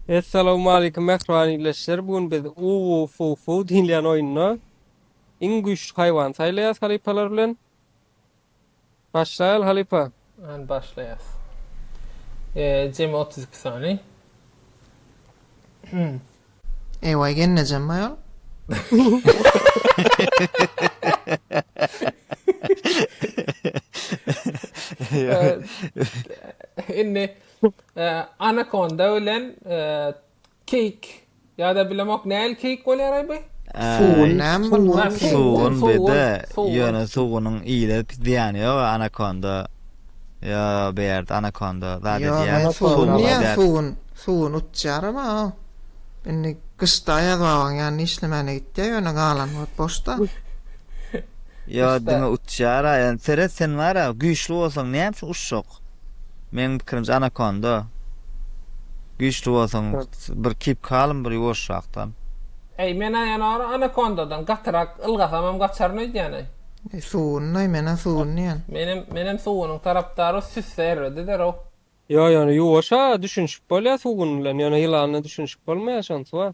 Essalawmalikim mähriban ildeşler bu gün biz Uwufufu diýilýän oýunda iň güýçli haýwany saýlaýas halypalar bilen. Başlaýaly halypa. Hany başlaýas. Eee jemi otuz iki sany. Hum. Eýwaý gelnejem aýol. Indi Anakonda bilen keýik ýa-da bilemok nähili keýik bolýaraý by? Sugun, sugun bede, ýöne sugunyň ile zyýany ýoga anakonda, ýa beýerde anakonda zat edýär. Sugun diýýän sugun, sugun utýaram a o. Indi gyşda aýaz babaň ýanyna işlemäne gitýär, ýöne galan wagt boşda. Ýa diňe utýara, ýa seret sen wara güýçli bolsaň näme üçin uçjak? ýok. Meň pikirimçe anakonda güýçli bolsaň bir kip kalm bir ýuwaşrakdan. Eý menä ýene or anakondadan gatyrak ylgasamam gaçaryn öýdýäneý. Eý suwunyny menä suwuny diýen. Menem menem suwunyň tarapdary süsse erredi derew. Ýok ýöne ýuwaşa düşünişip bolýa suwun bilen ýöne ýylana düşünişip bolmaýa şonsy bar.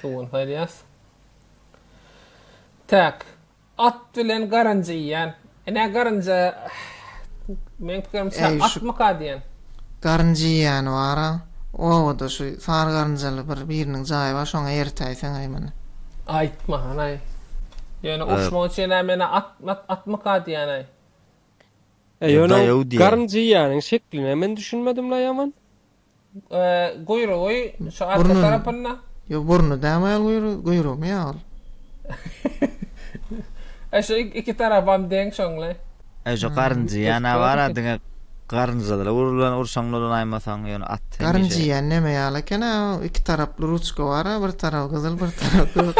Sugun saýlaýas. Tak. At bilen garynja iýýän. Ine garynja meň pikirimçe Äý, şu atmyka diýen. garynja iýýäni bar-a. Obada şu sary garynjaly bir biriniň jaýy bar, şoňa eritäýseň-aý muny. Aýtma hanaý. Ýöne urşmak üçin-ä men-ä at, mat, atmyka diýýän-aý. Ýöne oň garynja iýýäniniň şekline men düşünmedim-la ýaman. Guýrugy şu arka tarapynda. Ýok, burny dämaýal guýrugy, guýrugymy ýaly. E şu iki tarapam deň şoňly. E şu garynja ýana bara diňe garynjalara urlan urşaň ulanaýmasaň ýöne at hemişe. Garynja ýan näme ýaly eken a iki taraply ruçka bara bir tarap gyzyl bir tarap gök.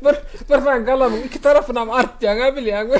Bir bir sen galamyň iki tarapynam artýaňa bilýäňmi.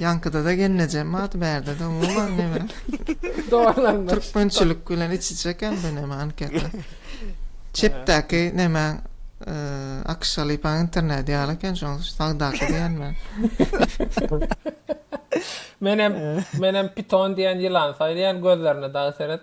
Ýaňkyda-da gelnejem bardy, bärde-de umuman neme. Dogrulandyr. Türkmençilik bilen iç-içe eken bu neme anketa. Çepdäki neme Akşalypaň interneti ýaly eken şoň sagdaky diýen men. Menem menem piton diýen ýylan saýlaýan gözlerine dagy seret.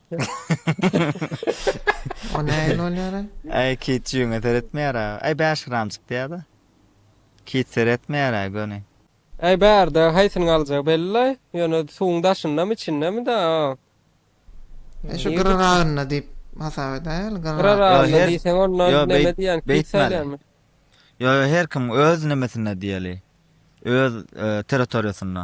O näin bolýar? Ay kit jüňe seretmeýär ha. Ay 5 gram çykdy ya da. Kit seretmeýär ha göni. Ay bärde haýsyny galjagy belli ýöne suwuň daşyndamy içindemi da. E şu gyraragynda diýip hasap edäýeli gyraragynda. Gyraragynda diýseň onda näme diýýän kit saýlanmy? Ýo ýo her kim öz nemesinde diýeli. Öz territoriýasynda.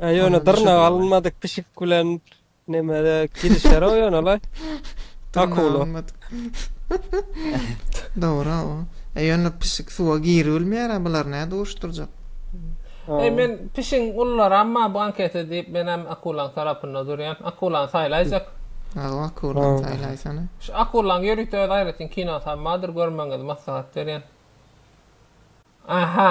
He ýöne dyrnak alynmadyk pişik bilen nemede gidişer o ýöne la. Akula. Dogry o. E ýöne pişik suwa giribilmeýär a bular näde uruşdyrjak. E men pişigiň ullary amma bu anketa diýip men hem akulaň tarapynda durýan. Akulany saýlaýjak. Aw akulany saýlaýsana. Şu akulaň ýörite öz aýratyn kinosy hem bardyr görmegiňizi maslahat berýän. Aha.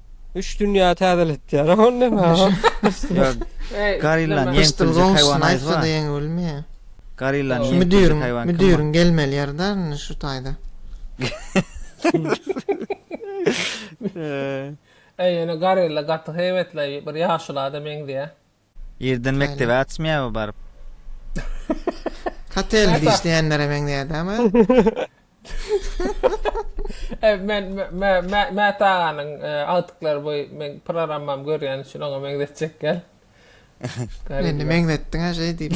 Üç dünýä täzeletýär ol näme o? Gorilla ýeňsirji haýwan aýtsa-da ýeňip bilmeýär. Gorilla ýeňsirji haýwan. Müdiriň gelmeli ýeri däl indi şu taýda. Eý ýöne gorilla gaty heýwetli bir ýaşulada meňzeýär. Irden mekdebe açmaýaby baryp. Hotel işleýänlere meňzeýärdi ama. Ew men Mäta aganyň agtyklary bu men programmam görýän üçin oňa meňzetjek gel. Meni meňzetdiň-a şeý diýip.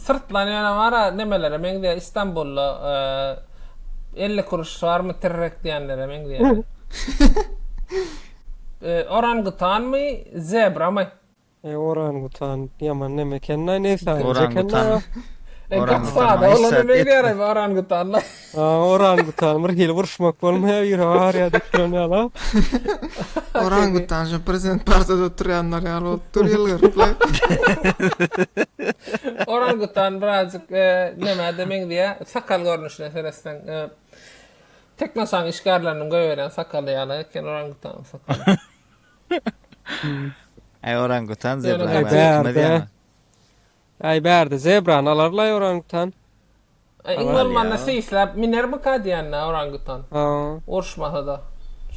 Syrtlan ýöne bar-a nemelere meňzeýär Istanbulda elli kuruş barmy tirrek diýenlere meňzeýär. Orangutanmy, zebramy? Eý orangutan ýaman neme ekeni-aý neýsäň. Orangutan. Orangutan maýyssat etdi. A, orangutan bir hili uruşmak bolmaýar, ýüre barýar diýip duran ýala. Orangutan şu prezident partada oturýanlar ýaly bolup dur ýylgyryply. Orangutan birazjyk e, nämede meňzeýär? Sakal görnüşine seretseň, e, Teknosaň işgärleriniň goýberýän sakaly ýaly eken orangutanyň sakaly. Aý orangutan Ýöne zebra gaty- bar, Bär, bär. Aý bärde zebrany alarlaý orangutan. Iň Alar bolmanda ýa. seýisläp minermika diýende orangutan. Haw. Uruşmasada.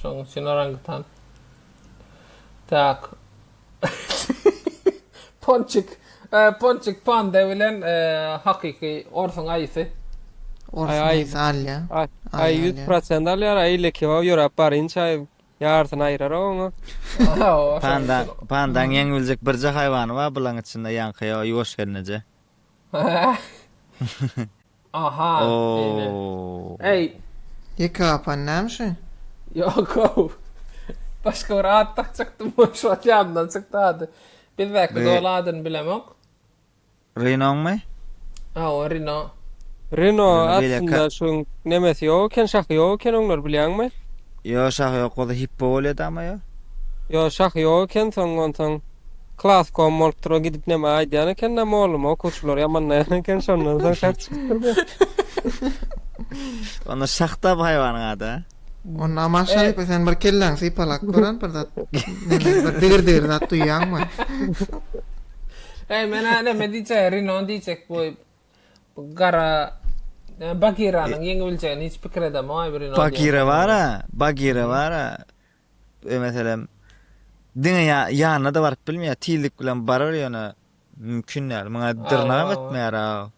Şonuň üçin orangutan. Tak. Ponçik. Ä, Ponçik panda bilen e, hakyky orsuň aýysy. Orsuň Aý, aýysy alýa. Aý, Aý aý ýüz alýa. prosent alýar, aý lekewaw ýöräp barýynça aý Ýarysyny aýyrarak oňa. Panda, pandaň ýeň biljek birje haýwany bar bulaň içinde ýaňky ýo ýuwaş gelneje. Aha. Ooo. Eý. Ýeke gapan näme şu? Ýok ow. Başga bir at dakjakdym şu wagt ýadymdan çykdy ady. Bizdäki zol adyny bilemok. Renoňmy? Hawa Reno. Reno Reno beýle ka- aslynda şuň nemesi ýok eken, şahy ýok eken oňlar bilýäňmi? Ýo şah ýok bolsa hippo bolýady ama ýo. Ýo şahy ýok eken soň onsoň klas kom bolupdyr o gidip neme aýdýan ekende mugallym okuwçylary ýamanlaýan eken şondan soň şah çykypdyr bu. Onda şah da bu haýwanyň ady. Onda Maşa ýeke sen bir kelläňi sypalap gören bir zat. Näme bir digir-digir zat duýýaňmy? Eý men näme diýjek, Rino diýjek bu gara Bagiranyň ýeňip biljegini hiç pikir edemok aý bu Rino. Bagira bara, Bagira bara. Meselem diňe ýanyna-da baryp bilmeýär, tizlik bilen barar ýöne. Mümkin däl muňa dyrnagam etmeýär aga.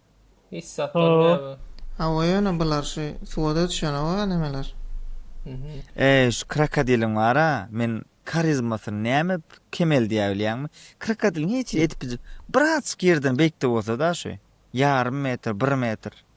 Hiç zat bolmaýar bu. Hawa ýöne bular şu suwada düşenoga nemeler. Eý şu krokodiliň bara men karizmasyny näme kemeldýär bilýäňmi? Krokodiliň hiç edip bijip birazjyk ýerden beýikde bolsada şu ýarym metr bir metr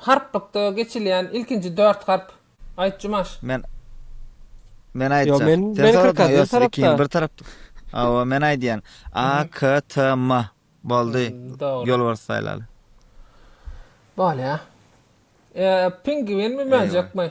Harplykda geçilýän ilkinji dört harp. Aýt Jumaş. Men Men aýtjak. Sen soradyň ýa sen ikini bir tarap. Hawa men aýdýan. A K T M. Boldy. Ýolbars saýlaly. Bolýa. Pingwinmi möjekmi?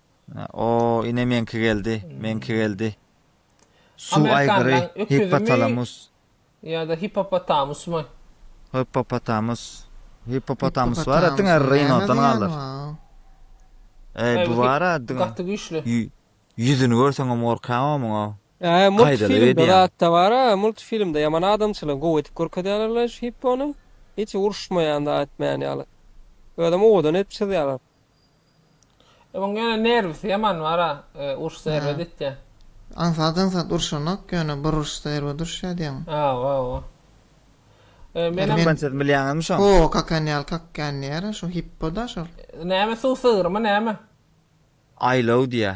O ine meňki geldi meňki geldi Suw aýgyry hipotalamus. Ýa-da hipopotamusmy? Hipopotamus. Hipopotamus bar-a diňe rinodan galar. Eý bu bar-a diňe. Gaty güýçli. Ýüzüni görseňem gorkaňow muňa. Eý multfilmde zatda bar-a multfilmde ýaman adamçylygy gowy edip görkezýärler-leý şu hippony. Hiç uruşmaýan zat etmeýän ýaly. Özem owadan edip çyzýarlar. Onuň ýöne nerwisi ýaman bar-a, urşsa erbet etýä. Aňsat aňsat urşanok, ýöne bir urşsa erbet urşýa diýeňmi? Hawa, hawa. Menem. Türkmençesini bilýäňizmi şoň? Ho, kakan ýaly kakýan diýer-ä, şo hippo-da şol. Näme suw sygrymy näme? Aýlaw diýýä.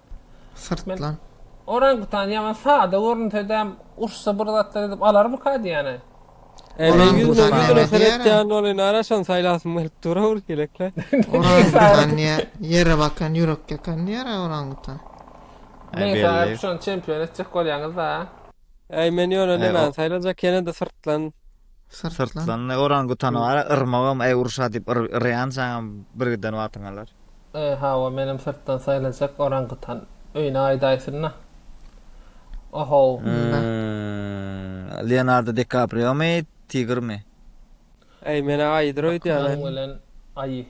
Syrtlan. Orangutan ýaňa sada görünsede urşsa bir zatlar edip alarmyka diýýäne. Eý men ýüz müň ýüzüne seretýän ol indi ara şony saýlasym gelip dur ol ýelekle. Orangutan diýýär ýere bakan ýürek ýakan diýýär a orangutan. Meň saýlap şony çempion etjek bolýaňyzda. Eý men ýöne nemäni saýlajak ýenede syrtlan. Syrtlan ne orangutan bar, yrmagam aý urşa diýip yrýan jaňam bir giden wagtyň alar. Eý hawa menem syrtdan saýlajak orangutan öýüne aýdaýsynda. Ohow. Leonardo Dikapriomy, tigrmi? Aý menä aýydyr öýdýän. Akmyň bilen aýy.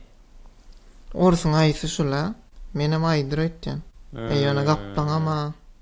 Orsuň aýysy şula. Menem aýydyr öýtýän. Aý ýöne gapbaňam a.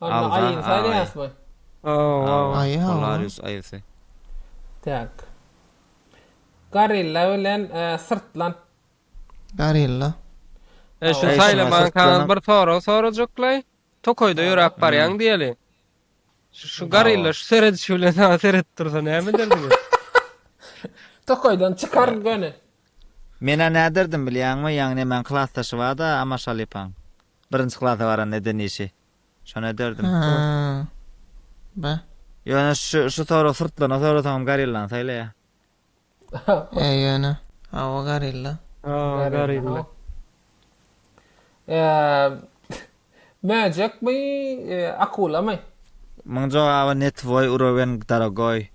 Alla aýyny saýlaýasmy? Hawa, Polaris aýysy. Tak. Gorilla bilen syrtlan. Gorilla. E şu saýlamaň kanal bir sorag sorajaklaý. Tokaýda ýöräp barýaň diýeli. Şu gorilla şu seredişi bilen saňa seredip dursa näme ederdiňiz? Tokaýdan çykar göni. Menä näderdim bilýäňmi, ýaňy nemäň klasdaşy barda Amaşalypaň. Birinji klasa baranda eden işi. Şony ederdim. Aha. Ba. Ýöne şu şu sorag syrtlana sorasaňam gorillany saýlaýa. Eý ýöne. Hawa gorilla. Hawa gorilla. Eee möjekmi akulamy? Muň jogaby ne tvoý urowen dorogoý.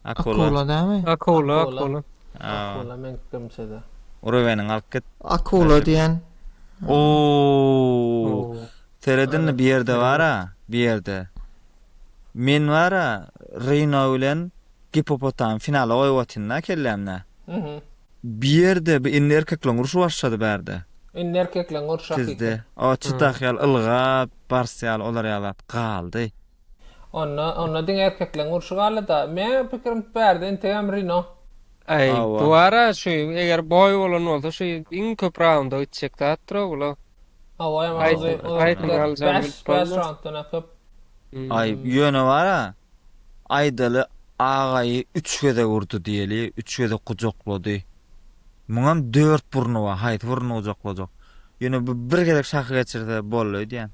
Akula. Akula dämi? Akula, akula. Akula meňkdimçede. Urubeniň alyp git. Akula diýen. Ooo. Seredindi bir ýerde bara, bir ýerde. Men bara Rino bilen Gipopotam finala goýup atynda kellämde. Mhm. Bir ýerde bir indi erkekleň urşy başlady bärde. Indi erkekleň urşy hakykatdan. Tizde. O çytak ýaly ylgap, bars ýaly olar ýalap galdy. Onda onda diňe erkekleň urşy galida. Meň pikirim bärde entegem Rino. Aý Hawa. bu ara şu eger boý bolan bolsa şu iň köp raunda gitjek zat dura bula. Hawa ýaman Aýt- uzyn uzyn aýt, gider. aljaň Bäş bilip bäş bolmaz. raunddan ha köp. Hmm. Aý ýöne bara Aýdaly agaýy üç gezek urdy diýeli, üç gezek gujaklady. Muňam dört burny bar, haýsy burny gujaklajak? Ýöne bu bir gezek şahy geçirse boldy öýdýän.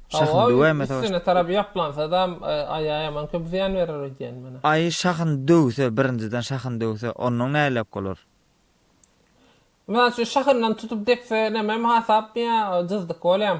Şahyny döwäýmese başga. Üstüne tarapy ýaplansada-m aýa ýaman köp zyýan berer öýdýän menä. Aýy şahyny döwse, birinjiden şahyny döwse, onnoň näleýek bolar? Mysal üçin şahyndan tutup depse nämem hasapmy ýa jyzdyk bolýam.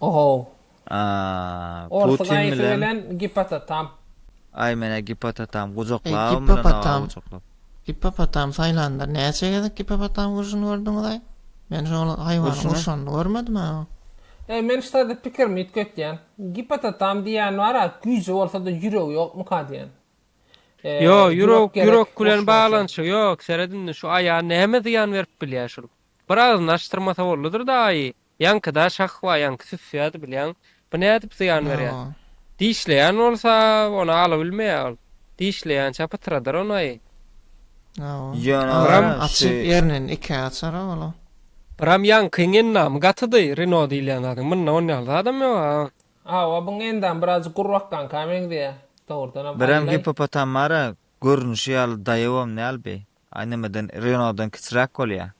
Ohow. Aaa. Orsy Putin gaýysy bilen. bilen gipototam. Aý menä gipototam gujaklap Eý gipopotam. Gipopotam saýlanda näçe gezek gipopotam urşuny gördüňizaý? Men şol haýwanyň Urşuny? urşanyny görmedim-ä. Eý men ştada pikirimi üýtgetýän. Gipototam diýýän bar-a güýji bolsada ýüregi ýokmyka diýýän. Ýo ýürek ýürek bilen baglanyşygy ýok seret indi şu aýa näme zyýan berip bilýä şul. Bir agyzyny açdyrmasa bollydyr-da aýy. Ýaňkyda şahwa ýaňky süsýärdi bilýäň. Bu nädip zyýan berýär? Hawa. Dişleýän bolsa, ony alabilmeýär ol. Dişleýänçä pytyradar oňaý. Hawa. Ýöne Agzam gara, açyp şu- ernini ikä açara ol-a. Bram ýaňkyň endamy gatydy, Reno diýilýän zadyň. Munda on ýaly zadam ýog-a. Hawa, buň endamy birazjyk gurbakkanyka meňzeýär. Dogrudanam Bram aýylaý. gippopotamara görnüşi ýaly daýawam däl bi. Ay nämeden Renault dan kiçiräk bolýa.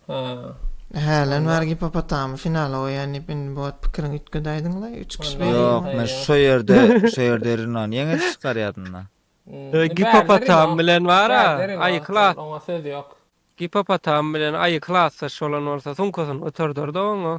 Haa. Hälen bar gipopotamy finala goýan diýip indi bu wagt pikiriňi üýtgedäýdiňlaý üç kişi beýle Ýok ýylan. men şo ýerde şo ýerde Renault ýeňiji çykar ýadymda. Ee gipopotam bilen bara aýy klas. Oňa söz ýok. Gipopotam bilen aýy klasdaş bolan bolsa sumkasyny göterderdi oňa.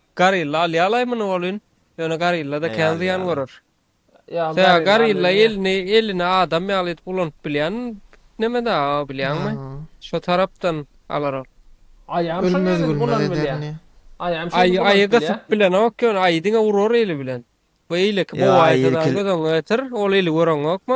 Garilla alýalaý muny welin, ýöne garilla-da kän zyýan görer. Ýa garilla elini elini adam ýaly edip ulanyp bilýän neme daga o bilýäňmi? Şo tarapdan alar ol. Aýam şo ýaly ulanyp bilýär. Aýy gysyp bilenok ýöne aýy diňe urar eli bilen. Bu eýleki bowaýysa dagy göz öňüňe getir, ol eli göreňokmy?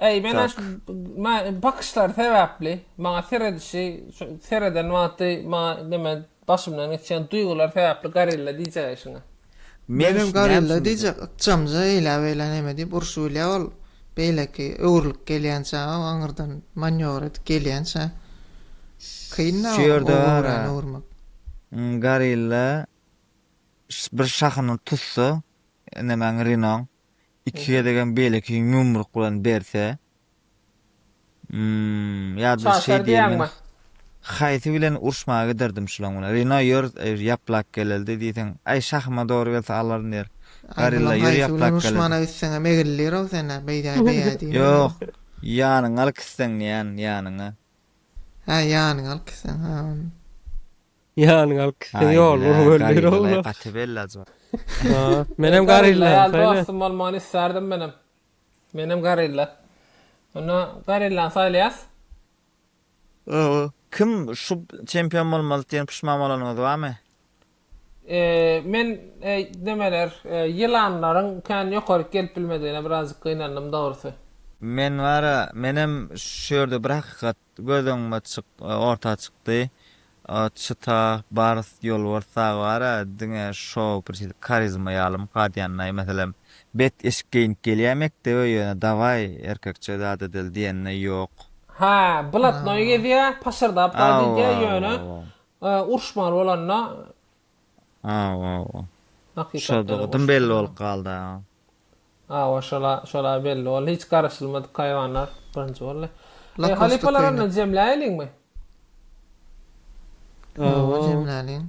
Eý, menä şu bakyşlary sebäpli, maňa seredişi, şu sereden wagty maňa näme başymdan geçýän duýgular sebäpli gorilla diýjek eşiňe. Menem gorilla diýjek, ykjamja eýläbeýlä näme diýip urşy bilýä ol, beýleki öwrülip gelýänçä, o aňyrdan manýowr edip gelýänçä. Kyn-da o öwüreni öwürmek. Gorilla bir şahyny tutsa, nemäň, Rinoň. iki gezegem beýleki ýumruk bilen berse ýa-da şeý diýen haýsy bilen uruşmaga giderdim şulaň bilen rino ýör ýaplak geleldi diýseň aý şahyma dogry gelse alaryn diýer gorilla ýör ýaplak geleldi uruşmana gitseňem egildirow sene beýdäý beýäý diýip ýok ýanyňa alyp gitseň diýýän ýanyňa hä ýanyňa alyp gitseň hä ony. Ýanyňa alyp gitseň ýoluny görüp ýöre-ow. Gaty bellaç ol. Menem gorilla ýaly dostum bolmagyny isterdim menem. Menem gorilla. Onda gorillany saýlaýas. Kim şu çempion bolmalydy diýen puşman bolanyňyz barmy? Men nämeler ýylanlaryň kän ýokaryk gelip bilmedigine birazjyk gynandym dogrysy. Men bara menem şu ýerde bir hakykat Göz öňüme orta çykdy. At, çyta, bars, ýolbars dagy bar-a, diňe şo bir şeýle karizma ýaly mukad ýanlaý. Meselem, bet eşik geýnip gelýär mekdebe, ýöne dawaý, erkekçe zat edeli diýende ýok. Hä, blatnoý gezýär, paşyrdap gaýt edýär, ýöne uruşmaly bolanda Awa-awa. Hakykatda-da Şodygydym belli goşulmaly. bolup galdy-a. Awa, şol-a, şol-a belli boldy. Hiç garaşylmadyk haýwanlar birinji boldy. Lakosta Halypalar köýnek. onda jemläýeliňmi? Hawa, Hawa. jemläliň.